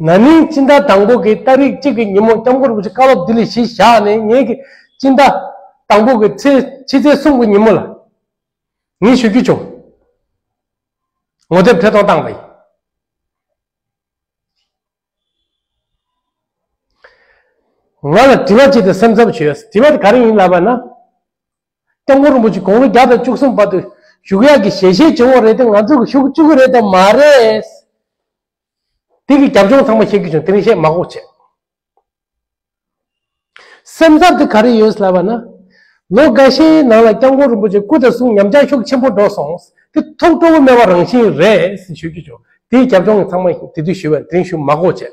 ན་ནིང་སྤྱི་ཟླ་དང་པོ་གི་ཟླ་རིག་གཅིག་གི་ཉིན་མོ་སྐྱབས་མགོན་རིན་པོ་ཆེ་བཀའ་སློབ་ལྡི་ལི་གཞིས་བཞག་ནས་ངེད་ཀྱི་སྤྱི་ཟླ་དང་པོ་གི་ཚེས་ཕྱི་ཚེས་གསུམ་གྱི་ཉིན་མོ་ལ་ངེད་ཞུ་རྒྱུ་བྱུང། ངོ་དེབ་ཐད་གཏོང་བཏང་བ་ཡིན། ང་ལ་དྲི་བ་ཅིག་དང་སེམས་འཚབ་བྱུས་ཡོད། དྲི་བ་དེ་ག་རེ་ཡིན་ལབ་པ་ན། སྐྱབས་མགོན་རིན་པོ་ཆེ་དགུང་ལོ་བརྒྱ་དང་བཅུ་གསུམ་པ་དུ་བཞུགས་ཡག་གི་ཞལ་བཞེས་བྱུང་བ་རེད་དེ་ང་ཚོ་གི་ཤུགས་བཅུག་གི་རེད་དམ་མ་རེད། དེ་གི་རྒྱབ་ལྗོངས་ཚང་མ་བཤད་ཀྱི་བྱུང་དེ་རིང་བཤད་མ་གོ་བྱས། སེམས་འཚབ་དེ་ག་རེ་ཡོད་ལབ་པ་ན། ལོ་འགའ་ཤས་ནང་ལ་སྐྱབས་མགོན་རིན་པོ་ཆེ་སྐུ་དང་གསུང་ཉམས་ཆག་ཤུགས་ཆེན་པོ་འགྲོ་སོང་དེ་ཐུགས་སྤྲོ་བོ་མེད་པ་རང་བཞིན་རེད་ཞུས་ཀྱི་བྱུང་དེ་གི་རྒྱབ་ལྗོངས་ཚང་མ་དེ་དུས་ཞུས་པ་དེ་རིང་ཞུས་མ་གོ་བྱས།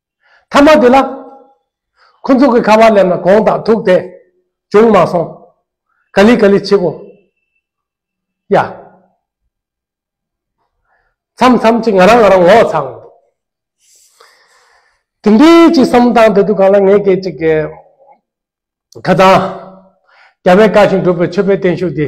མཐའ་མ་དེ་ལ། ཁོ་ཚོ་གི་ཁ་བ་སླེབས་ན་གོང་དང་ཐུག་དེ་བྱུང་མ་སོང། ག་ལི་ག་ལི་བྱེད་གོ། ཡ། མཚམས་མཚམས་ཀྱི་ང་རང་ང་རང་ངོ་ཚ་འོང་འདུག། དེ་འདྲའི་ཅི་བསམ་དང་དེ་དུས་གང་ལ་ངའི་སྐད་ཅིག་གི། ཁ་ཚང། རྒྱ་བོད་དཀར་ཞིང་གྲུབ་པའི་ཆོས་པའི་བརྟན་བཞུགས་འདི།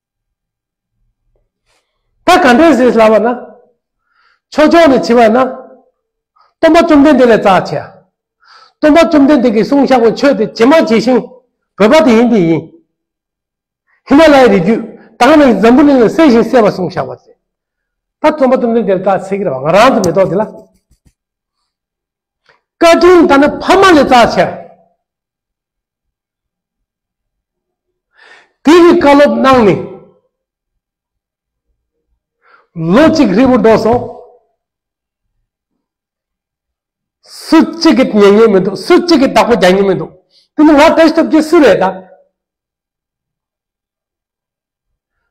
ད་ག་འདྲས་ཟེར་སླ་བ་ན། ཆོས་ཕྱོགས་ནས་ཕྱི་བ་ན། སྟོན་པ་བཅོམ་ལྡན་འདས་ལས་རྩ་ཆེ། སྟོན་པ་བཅོམ་ལྡན་འདས་ཀྱིས་གསུང་བཤགས་པའི་ཆོས་དེ་ཇི་མ་ཇི་བཞིན་བོད་པ་དེ་ཡིན་དེ་ཡིན། ཧི་མ་ལའི་རི་བརྒྱུད་དག་ནས་འཛམ་བུ་གླིང་ལ་གསལ་བཞིན་གསལ་བར་གསུང་བཤགས་པ་མཛད། ད་བཅོམ་པ་བཅོམ་ལྡན་འདས་ལས་རྩ་ཆེ་གི་ར་བ་ང་རང་དུ་མེ་ཏོག་དེ་ལ། བཀའ་དྲིན་ད་ནི་ཕ་མ་ལས་རྩ་ཆེ། དེ་ཡི་བཀའ་སློབ་གནང་ནས་ལོ་གཅིག་ཧྲིལ་པོ་འགྲོ་སོང། སུ་གཅིག་གིས་ཉན་ཉན་མི་འདུག་སུ་གཅིག་གིས་བདག་པོ་རྒྱག་ཉན་མི་འདུག་དེ་ནི་ང་བཀྲ་ཤིས་སྟོབས་ཀྱི་སུ་རེད་ད།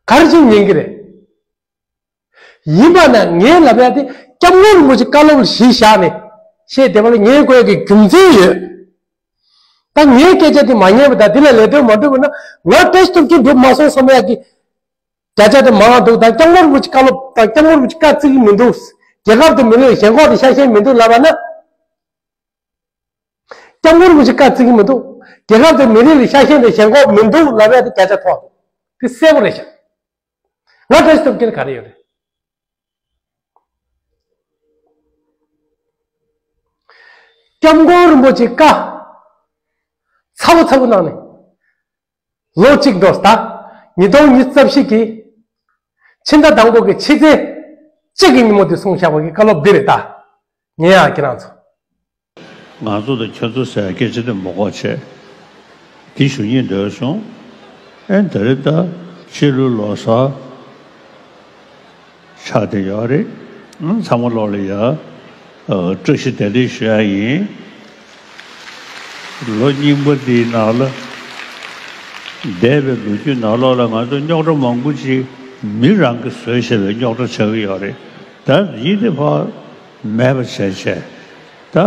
ག་རེ་བྱེད་ཉན་གི་རེད། ཡིན་པ་ན་ངའི་ལབ་ཡ་དེ་སྐྱབས་མགོན་རིན་པོ་ཆེ་བཀའ་སློབ་ལ་གཞི་བཞག་ནས་བཤད་བསྡད་པ་ལ་ངས་གོ་ཡ་གི་རྒྱུ་མཚན་ཡོད། ད་ངའི་སྐད་ཆ་དེ་མ་ཉན་པ་དང་དེ་ལ་ལས་དོན་མ་བསྒྲུབས་པ་ན་ང་ཏེས་ཐུབ་ཀྱི་འགྲུབ་མ་སོང་བསམ་ཡ་གི་བརྒྱ་ཆ་དེ་མང་འདུག་ད་སྐྱབས་མགོན་རིན་པོ་ཆེ་བཀའ་སློབ་དང་སྐྱབས་མགོན་རིན་པོ་ཆེ་བཀའ་བརྩི་གི་མི་འདུག་རྒྱལ་ཁབ་དུ་མི་ལོས་ཞེན་ཁོག་དེ་ཤ་ཞེན་མི་འདུག་ལབ་པ་ན། སྐྱབས་མགོན་རིན་པོ་ཆེ་བཀའ་བརྩི་གི་མི་འདུག་རྒྱལ་ཁབ་དེ་མི་རིགས་ལ་ཤ་ཞེན་དང་ཞེན་ཁོག་མི་འདུག་ལབ་ཡ་དེ་སྐད་ཆ་ཐོག་འདུག་དེ་གསལ་པོ་རེད་ཤག་ང་བཀྲ་ཤིས་ཐོབ་ཀྱི་ནི་ག་རེ་ཡོད་རེད། སྐྱབས་མགོན་རིན་པོ་ཆེ་བཀའ་ཚ་པོ་ཚ་པོ་གནང་ནས། ལོ་གཅིག་འགྲོ་སྟ་ཉིས་སྟོང་ཉིས་རྩ་བཞི་གི་ཕྱི་ཟླ་དང་པོ་གི་ཕྱི་ཚེས་གཅིག་གི་ཉིན་མོ་འདི་སོང་བཞག་པ་གི་བཀའ་སློབ་འདི་རེད་ད། ངའི་ཨ་ཁྱེད་རང་ཚོ། ང་ཚོ་དང་ཁྱོད་ཚོ་ཟེར་སྐད་ཅི་འདི་མོ་ཀོག་ཆེ། འདི་ཞུ་ཉེས་འདོད་བྱུང། ཨེ་འདི་རེད་ད། ཕྱི་ལོའི་ལོ་སར། ཆགས་བསྡད་ཡོད་རེད། ཚང་མ་ལོག་ལེ་ཡ། བཀྲ་ཤིས་བདེ་ལེགས་ཞུ་ཡ་ཡིན། ལོ་རྙིང་པ་འདིའི་ནང་ལ། འདས་པའི་ལོ་རྒྱུས་ནང་ལོག་ལ་ང་ཚོ་རྙོག་དྲ་མང་པོ་ཅིག་མི་རང་གིས་བཟོས་ཞེས་པའི་རྙོག་དྲ་ཆགས་ཀྱི་ཡོད་རེད། ད་ཡིད་བདེ་བག་མེད་པ་བྱས་བྱས། ད།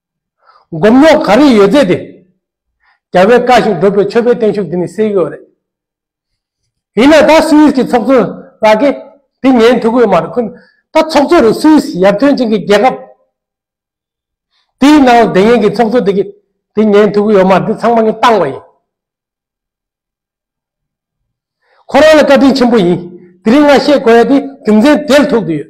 སྒོམ་རྙོག་ག་རེ་ཡོད་རྫས་དེ། རྒྱལ་བས་བཀའ་བཞིན་བསྒྲུབ་པའི་ཆོས་པའི་བརྟན་བཞུགས་འདི་ནི་སེལ་གྱི་འོ་རེད། ཡིན་ན་ད་སུ་ཡིས་ཀྱི་ཚོགས་གཙོ་ལགས་ཀྱི་དེ་ཉན་ཐུག་གི་མ་རེད་ཁུ། ད་ཚོགས་གཙོ་རུ་སུ་ཡིས་ཡར་ཐོན་ཅིང་གི་རྒྱལ་ཁབ། དེའི་ནང་ལ་དེ་ཉན་གྱི་ཚོགས་གཙོ་དེ་གི་དེ་ཉན་ཐུག་གི་ཡོད་མ་རེད་དེ་ཚང་མ་ངས་བཏང་བ་ཡིན། ཁོ་རང་ལ་བཀའ་དྲིན་ཆེན་པོ་ཡིན། དེ་རིང་ང་བཤད་དགོས་ཡ་དེ་རྒྱུ་མཚན་དེ་ལ་ཐུག་དུ་ཡོད།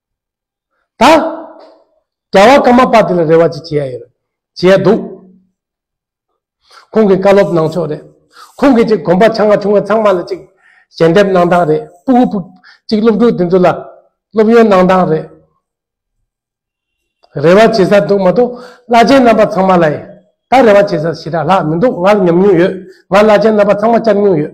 ད་རྒྱ་བ་ཀ་མ་པ་དེ་ལ་རེ་བ་ཅི་བྱེད་ཡ་ཡོད་རེད་བྱེད་ཡ་འདུག་ཁོང་གི་བཀའ་སློབ་གནང་ཕྱོགས་རེད་ཁོང་གི་ཅིག་གོམ་པ་ཆ་ང་ཆུང་ང་ཚང་མ་ལ་ཅིག་ཞལ་འདེབས་གནང་སྟངས་རེད་སྤུ་གུ་སྤུ་ཅིག་སློབ་ཕྲུག་དེ་ཚོ་ལ་སློབ་ཡོན་གནང་སྟངས་རེད་རེ་བ་བྱེད་ས་འདུག་མ་གཏོགས་བླ་ཆེན་རྣམ་པ་ཚང་མ་ལ་ད་རེ་བ་བྱེད་ས་ཞེ་དྲག་ལྷག་མི་འདུག་ང་ལ་ཉམས་མྱོང་ཡོད་ང་བླ་ཆེན་རྣམ་པ་ཚང་མ་བཅར་མྱོང་ཡོད།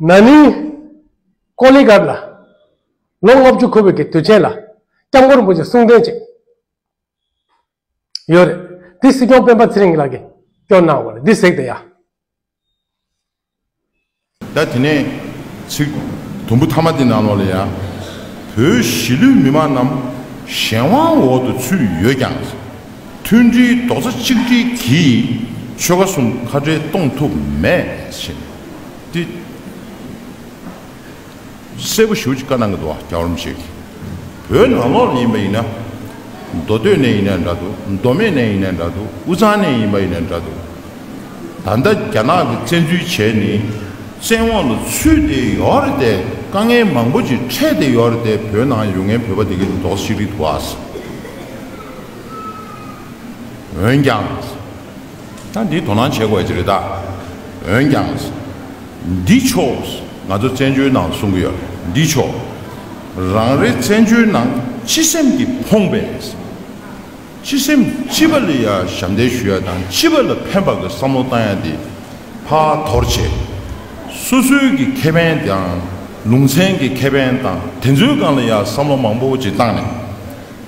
ན་ནིང། ཀོ་ལི་གྷར་ལ་ལོ་ལྔ་བཅུ་འཁོར་བའི་དུས་ཆེན་ལ་སྐྱབས་མགོན་པོ་ཆེ་གསུང་འཕྲིན་ཅིག་ཡོད་རེད། དེ་སྲིད་སྐྱོང་སྤེན་པ་ཚེ་རིང་ལགས་ཀྱིས་སྐྱོར་གནང་བ་རེད་འདི་གཟིགས་དེ་ཡ། ད་དེ་ནས་ཚིག་དུམ་བུ་ཐ་མ་འདི་ནང་ལོགས་ལ་ཡ། བོད་གཞིས་ལུས་མི་མང་རྣམས་གཞན་དབང་འོག་ཏུ་ཚུད་ཡོད་ཀྱང། མཐུན་སྒྲིལ་རྡོག་རྩ་གཅིག་སྒྲིལ་གྱིས་ཆོལ་ཁ་གསུམ་ཁ་བྲལ་གཏོང་ཐུབ་མེད་ཕྱིན། ཏི་སེ་བོ་ཞུགས་ཀྱི་བཀའ་གནང་གི་འདུག་བ་རྒྱ་རོམ་ཞིག་བོད་ནང་ལོག་ལ་ཡིན་པ་ཡིན་ན། མདོ་སྟོད་ནས་ཡིན་ན་འདྲ་འདུག་མདོ་སྨད་ནས་ཡིན་ན་འདྲ་འདུག་དབུས་གཙང་ནས་ཡིན་པ་ཡིན་ན་འདྲ་འདུག་ད་ལྟ་རྒྱ་ནག་གི་བཙན་འཛུལ་བྱས་ནས་བཙན་འོག་ལ་ཚུད་དེ་ཡོད་རེད་དེ་དཀའ་ངལ་མང་པོ་ཅིག་འཕྲད་དེ་ཡོད་རེད་དེ་བོད་ནང་ཡོད་ངའི་བོད་པ་དེ་གི་རྡོག་རྩ་གཅིག་སྒྲིལ་དུ་བ། འོན་ཀྱང། ད་འདིའི་དོ་སྣང་བྱེད་དགོས་ཀྱི་རེད་ད། འོན་ཀྱང། འདི་ཕྱོགས་ང་ཚོ་བཙན་བྱོལ་ནང་གསུང་གི་ཡོད་རེད་འདི་ཕྱོགས། རང་རེ་བཙན་བྱོལ་ནང་སྤྱི་སེམས་ཀྱི་ཕོངས་པས། སྤྱི་སེམས་སྤྱི་པ་ལ་ཡ་ཞབས་འདེགས་ཞུ་ཡ་དང་སྤྱི་པ་ལ་ཕན་པ་གི་བསམ་བློ་བཏང་ཡ་འདི་ཕ་དོར་བྱས། སོ་སོའི་གི་ཁེ་ཕན་དང་ལུང་ཚན་གི་ཁེ་ཕན་དང་དེ་ཚོའི་སྒང་ལ་ཡ་བསམ་བློ་མང་པོ་ཅིག་བཏང་ནས།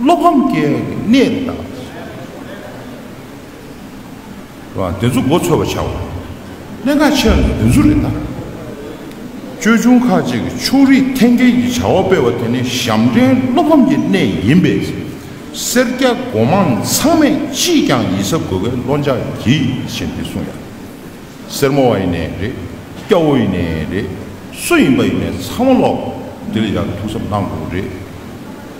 བློ་ཕམ་སྐྱེ་འོས་ཀྱི་གནས་རི་དྭགས་དེ་ཚོ་ལ་ཐུག་ནས། དེ་ཚོ་མགོ་འཚོས་པར་བྱའོ། གནད་འགག་ཆེ་བ་ནི་དེ་ཚོ་རི་དྭགས། ཅོལ་ཆུང་ཁག་ཅིག་གིས་ཕྱོགས་རིས་འཐེན་འཁྱེར་གྱི་བྱ་བ་སྤེལ་བ་དེ་ནི་ཞབས་འདྲེན་བློ་ཕམ་གྱི་གནས་ཡིན་པས། སེར་སྐྱ་མགོ་མང་ཚང་མས་ཅིས་ཀྱང་ཡིད་གཟབ་དགོས་པའི་བློ་འཇགས་ཀྱིས་བཞིན་དེ་གསུངས་ཡ། སེར་མོ་བ་ཡིན་ནས་རེད། སྐྱ་བོ་ཡིན་ནས་རེད། སུ་ཡིན་པ་ཡིན་ནས་ཚང་མ་ལོག་དེ་ལ་ཡར་ཐུགས་གཟབ་གནང་དགོས་རེད།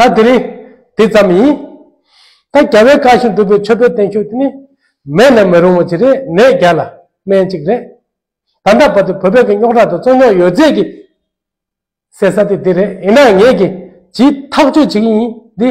ད་དེ་རིང་དེ་ཙམ་ཡིན། ད་རྒྱ་བལ་བཀག་བཞིན་འདུག་པའི་ཆོས་པའི་བརྟན་བཞུགས་དེ་ནི་མེད་ན་མི་རུང་བ་ཅིག་རེད་ནད་བརྒྱ་ལ་སྨན་གཅིག་རེད། ད་ལྟ་བར་དུ་བོད་པའི་གི་རྙོག་དྲ་དང་རྩོད་རྙོག་ཡོད་ཚད་ཀྱི་ཟེར་ས་དེ་འདི་རེད་ཡིན་ནའང་ངས་ཀྱི་ཇི་ཐག་གཅོད་བྱེད་ཀྱི་ཡིན་འདི།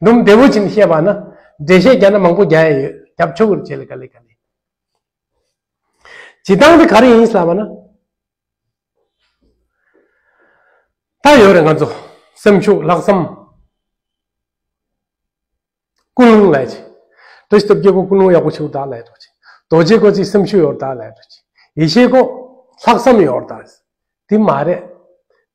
སྡོམ་བདེ་བོ་ཅིག་བཤད་པ་ན་འགྲེལ་བཤད་རྒྱ་ནག་མང་པོ་རྒྱ་ཡ་ཡོད་རྒྱབ་ཆོ་གུར་བྱེད་ལ་ག་ལས་ག་ལས་བྱེད་སྟངས་དེ་ག་རེ་ཡིན་བསལ་བ་ན་ད་ཡོད་རེ་ང་ཚོ་སེམས་ཤུགས་ལྷག་བསམ་ཀུན་སློང་ལས་ཅིག་དོ་ཞིབ་རྒྱལ་པོ་ཀུན་སློང་ཡག་པོ་ཆེའུ་དག་ལས་དོ་ཅིག་རྡོ་རྗེ་ཀོ་ཅིག་སེམས་ཤུགས་ཡོར་དག་ལས་དོ་ཅིག་ཡེ་ཤེས་ཀོ་ལྷག་བསམ་ཡོར་དག་དེ་མ་རེད་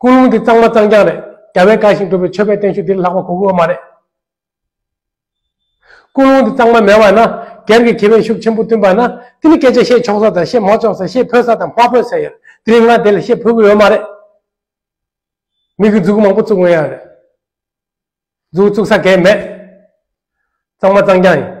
ཀུན་སློང་འདི་གཙང་མ་གཙང་རྐྱང་རེད། རྒྱ་བལ་དགའ་ཞིང་སྒྲུབ་པའི་ཆོས་པའི་བསྟན་བཤུག་འདིར་ལྷག་པ་གོ་དགོས་བ་མ་རེད། ཀུན་སློང་འདི་གཙང་མ་མེད་བ་ན་སྒེར་གྱི་གྱེས་པའི་ཤུགས་ཆེན་པོ་བསྟུན་པ་ན་འདི་ནི་སྐད་ཆ་བཤད་ཆོག་ས་དང་བཤད་མ་ཆོག་ས་བཤད་ཕོད་ས་དང་མ་ཕོད་ས་ཡོད་དེ་རིང་ང་དེ་ལ་བཤད་ཕོད་གི་ཡོད་མ་རེད། མི་གི་འཛུགས་མང་པོ་བཙུགས་འོན་ཡག་རེད། འཛུགས་བཙུགས་ས་གས་མེད། གཙང་མ་གཙང་རྐྱང་ཡིན།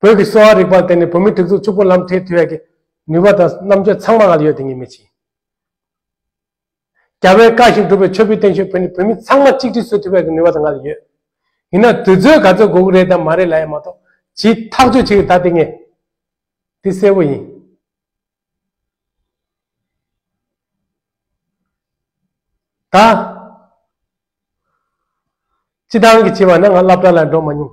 བོད་ཀྱི་གསོ་བ་རིག་པར་བརྟེན་ནས་བོད་མི་དུག་རྫུ་ཕྱུག་པོ་ལམ་ཐའི་དུས་ཡག་གི་ནུས་པ་དང་རྣམ་དཔྱོད་ཚང་མ་ང་ལ་ཡོད་དེ་ངས་མི་བྱིན། རྒྱ་བལ་བཀའ་བཞིན་སྒྲུབ་པའི་ཆོས་བུའི་བསྟན་བཤོལ་བོད་ནས་བོད་མི་ཚང་མ་གཅིག་སྒྲིལ་བཟོ་ཐུབ་ཡག་གི་ནུས་པ་དང་ང་ལ་ཡོད། ཡིན་ན་དུས་ཚོད་ག་ཚོད་དགོས་ཀྱི་རེད་དམ་མ་རེད་ལ་ཡང་མ་གཏོགས་ཇི་ཐག་གཅོད་བྱེད་ཀྱི་ད་དེ་ངས་འདི་གསལ་བོ་ཡིན། ད་སྤྱི་བཏང་གི་བྱས་པ་ན་ང་བླ་བྲ་ལ་འགྲོ་མ་མྱོང།